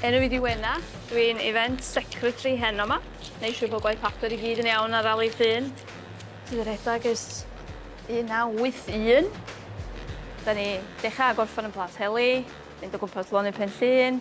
Enw i di Wena, dwi'n event secretary heno yma. Neu siw bod gwaith papur i gyd yn iawn ar rali llun. Ti'n redag ys 1981. Da ni dechrau gorffan yn Plas Heli, mynd o gwmpas lonydd Pen Llun,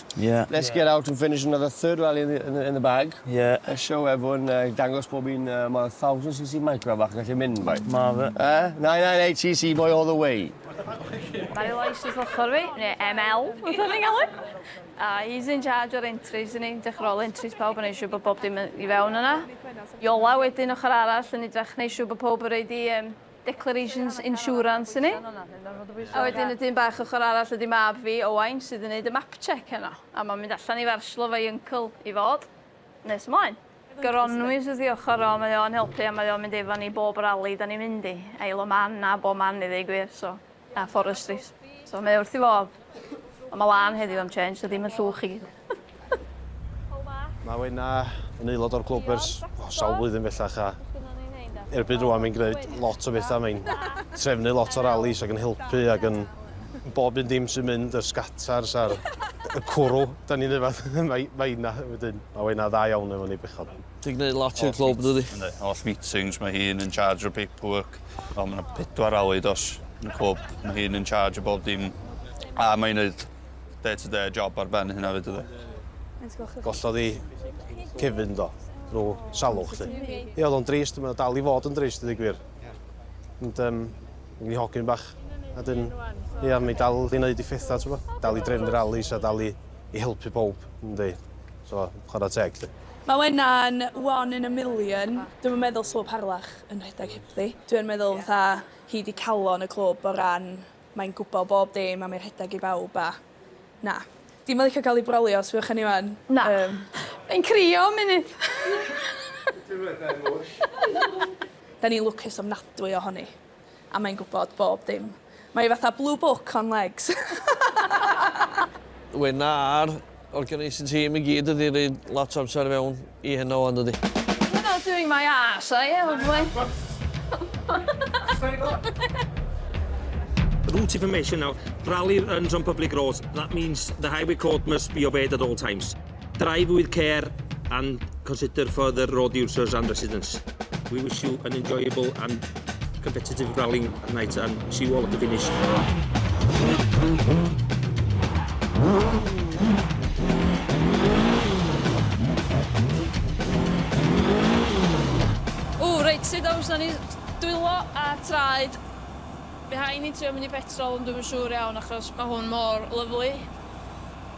Ie. Let's get out and finish another third rally in the in the in the bag. Ie. A show everyone yy i dangos bob un yy ma' 1000 cc micro bach yn gallu mynd boi. Ma' fe. Yy 998 cc boi all the way. Mae ei lais wrth ochr fi, neu ML, fatha ni'n galw. A he's in charge o'r entries yn ei dechra ôl entries pawb yn neu' siŵr bo' bob dim yn i fewn yna. Iola wedyn ochor arall yn idrach neu' siŵr bo' powb yn roid i yym Declarations Insurance i ni. A wedyn y dyn bach ochr arall ydi mab fi, Owain, sydd yn neud y map check heno. A ma'n mynd allan i Farslo efo'i uncle i fod. Nes ymlaen. Gronwys wrth i ochr o, mae o'n helpu a mae o'n mynd efo ni bob rali 'dan ni'n mynd i. Isle o Man a bob man i ddeu gwir, so. A forestry. So mae wrth i fodd. Ond mae lan heddiw am change, so ddim yn llwch i gyd. Mae Wena yn aelod o'r clwb ers oh, sawl blwyddyn bellach a erbyn rwan mae'n gwneud lot o bethau. Mae'n trefnu lot o rallies ac yn helpu ac yn bob un dim sy'n mynd, y sgatars a'r y cwrw. Da ni'n yfad, mae, mae yna wedyn. Mae Wena dda iawn efo ni bechod. Ti'n gwneud lot i'r clwb, yn dwyt? Yndw, holl meetings, mae hi'n in charge o'r paperwork. Mae yna pedwar awy dos yn y clwb, mae hi'n in charge o bob dim. A mae hi'n gwneud day to day job ar ben hynna fyd ydy. Gollodd i Kevin do, drwy salwch lly. Ie, oedd o'n drist, mae dal i fod yn drist, ydy gwir. Ond, um, ni hogyn bach. A dyn, ie, mae dal i wneud i phethau, ti'n Dal i drefnu rallies a dal i, i helpu pob, ynddi. So, chwarae teg, lly. Mae hwnna'n one in a million. Dwi'm yn meddwl 'sa fo parlach yn rhedeg hebddi. Dwi yn meddwl fatha hi 'di calon y clwb o ran mae'n gwbo bob dim a mae rhedeg i bawb a na. Di'm yn licio cael ei brolio os fuoch yn Iwan. Na. Mae'n crio am munud. Dwi efo emotion. Da ni'n lwcus ofnadwy ohoni. A mae'n gwybod bob dim. Mae hi fatha blue book on legs. Wena a'r organising team i gyd wedi rhoi lot o amser i fewn i hyn o yndydi? You're not doing my arse are you old boy? Route information nawr, rally runs on public roads, that means the highway code must be obeyed at all times. Drive with care and consider for the road users and residents. We wish you an enjoyable and competitive rallying night and see you all at the finish. O, reit, sydd awr sy'n ni dwylo a traed. Behind ni'n trio mynd i petrol, ond dwi'n siŵr iawn achos mae hwn mor lyflu.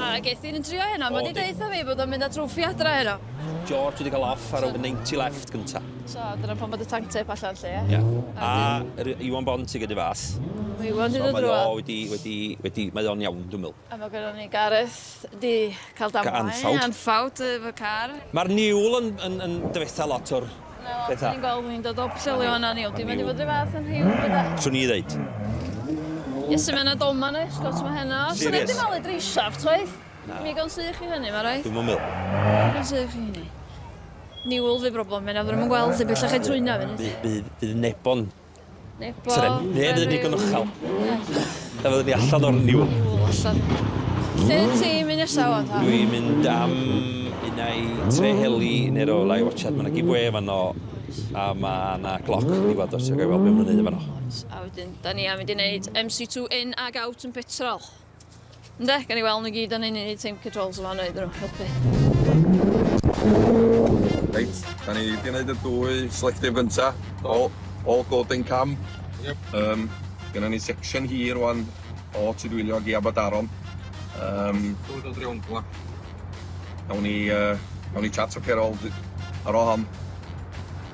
A geth un yn trio heno, mae wedi deutha fi bod o'n mynd â trwffi adra heno. George wedi cael off ar y 90 left gynta. So, dyna pan bod y tank tape allan lle. Ia. A Iwan Bont i gyda fath. Mae Iwan wedi dod drwa. So mae o wedi, wedi, wedi, mae o'n iawn dwi'n meddwl. A mae gyda ni Gareth di cael damwain. Anffawd. Anffawd efo car. Mae'r niwl yn, yn, yn dyfetha lot o'r Beth a? Ni'n gweld ni'n dod o Pwllheli wan a ni'n mynd i fod rhyw fath yn rhyw bydda. Swn i ddeud. Iesu mae yna doma na eich gwrs mae heno. Swn i wedi malu dreisaf toedd? Na. Mi gan sych chi hynny mae rhaid. Dwi'n mwyn mil. Mi gan sych chi hynny. Niwl fi broblem mae na ddim yn gweld i bellach ei trwyna fyny. Bydd Nebo yn Nebo. Tren. Neu fydd yn ddigon uchel. Na fydd ni allan o'r niwl. Niwl allan. Lle ti'n mynd nesaf wan ta? Dwi'n mynd am un ai tre heli neu rôl ai watchad. Mae yna giveaway efo no a mae yna gloc yn diwad os ti'n gael gweld beth mae'n ei wneud efo no. A wedyn, da ni am mynd i wneud MC2 in ag out yn petrol. Ynde, gan i weld nhw gyd o'n un i team controls yma wneud nhw helpu. Reit, da ni wedi gwneud y dwy selective gynta, all, all golden cam. Yep. Um, Gynna ni section hir wan o Tudwylio i Abadaron. Um, Dod o Dreongla. Awn ni, uh, awn ni chat o Cerol ar ôl hon.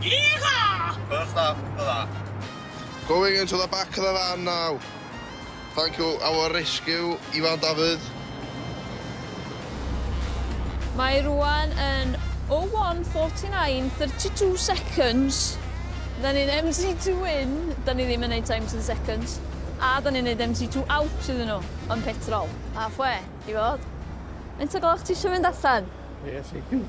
Yeehaw! Good stuff, good stuff. Going into the back of the van now. Thank you our rescue, Ifan Dafydd. Mae rwan yn 01:49:32 seconds. Da ni'n MT2 in, da ni ddim yn neud times yn seconds, a da ni'n neud MT2 out iddyn nhw yn petrol. Halfway, i fod. Faint o gloch ti isio mynd allan? Yes, I do.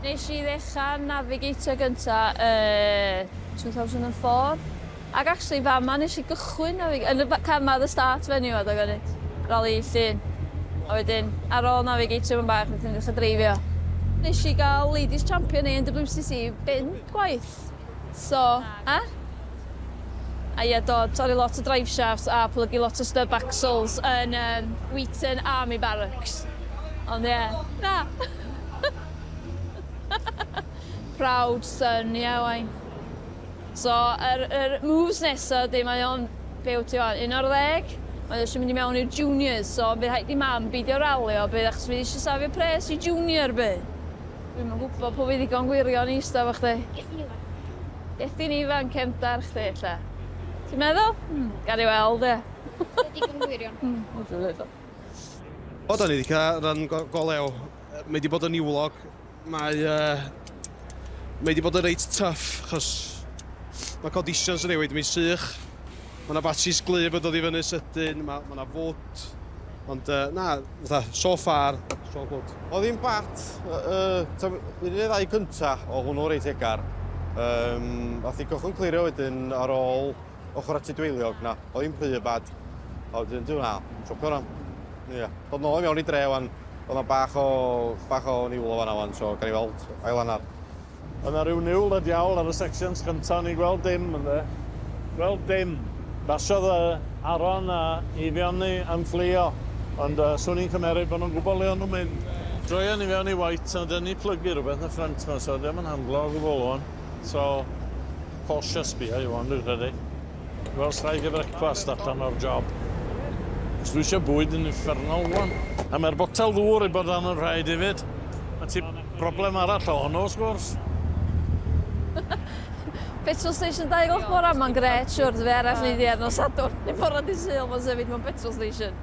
Nes i ddechrau yn Navigator gynta yn 2004. Ac actually fama nes i gychwyn Navigator, yn y car ma, the start venue ma, doedd gynnydd. Rali llun. A wedyn, ar ôl Navigator yn bach, nes i'n dechrau dreifio. Nes i gael Ladies Champion ANWCC bum gwaith. Shafts. So, a? A ie do, torri lot o drive shafts a plygu lot o stub axles yn um, Wheaton Army Barracks. Ond ie, na! Proud son, ie yeah, wain. So, yr, er, er moves nesa, di mae o'n, be wyt ti o'n, un o'r ddeg? Mae eisiau mynd i mewn i'r juniors, so bydd rhaid i mam beidio ralio, bydd achos fydd eisiau safio pres i junior, bydd. Dwi'm yn gwybod pwy fydd ddigon gwirion i ista efo chdi. Ges i'n ifanc. Ges di'n ifanc cefndar chdi ella. Ti'n meddwl? Hmm. Gawn ni weld ie. Dwi digon gwirion. Hmm, wrth i ddeud o. O, da ni wedi cael rhan go, go lew. Mae wedi bod yn niwlog. Mae, uh, mae wedi bod yn reit tuff, achos mae conditions yn newid, mae'n sych. Mae yna batshis glyf yn dod i fyny sydyn, mae yna fwt, ond uh, na, fatha, so far, it's all good. O ddim bat, uh, un neu ddau cynta o hwnnw reit egar. Um, a thi cychwyn clirio wedyn ar ôl ochr at y dweiliog na, o ddim rhy bad. A wedyn, dwi'n na, siopio rhan. Ie, yeah. dod nôl i mewn i dre wan, oedd yna bach o, bach o niwl o fanna wan, so gan i weld ailanar. O' 'na ryw niwl y diawl ar y sections cynta o'n i'n gweld dim ynde. Gweld dim. Basiodd yy Aaron a Eifion ni yn fflio ond yy swn i'n cymeryd bo' nw'n gwbo le o'n nw'n mynd. Droion ni fewn i white a 'dyn ni plygu rwbeth yn y ffrynt 'ma so 'di o'm yn handlo o gwbwl ŵan. So cautious bia i ŵan dwi'n credu. Wel, os rhaid i frecwast allan o'r job. Os dwi eisiau bwyd yn uffernol wan. A mae'r botel ddŵr i bod yn rhaid hefyd. Mae ti broblem arall o hwnnw, wrth gwrs. Petrol station dau o'r bora, mae'n gret, siwr, dwi arall neu ddiar nos adwn. Neu bora di syl, mae'n sefyd mewn petrol station.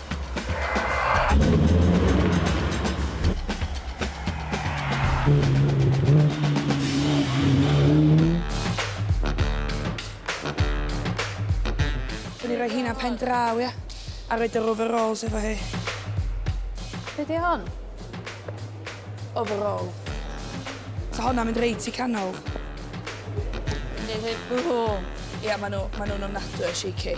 Dwi'n rhoi hynna pen draw, ia? A rhoi yr overalls efo hi. Be di hon? Overall. So hwnna mynd reit i canol. Dwi'n dweud bwhw. Ia, maen nhw'n ma nhw ofnadwy o shaky.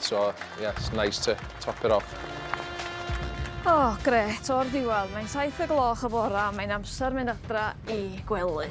So, yeah, it's nice to top it off. O, gret, o'r diwedd. Mae'n saith y gloch y bora, mae'n amser mynd adra i gwely.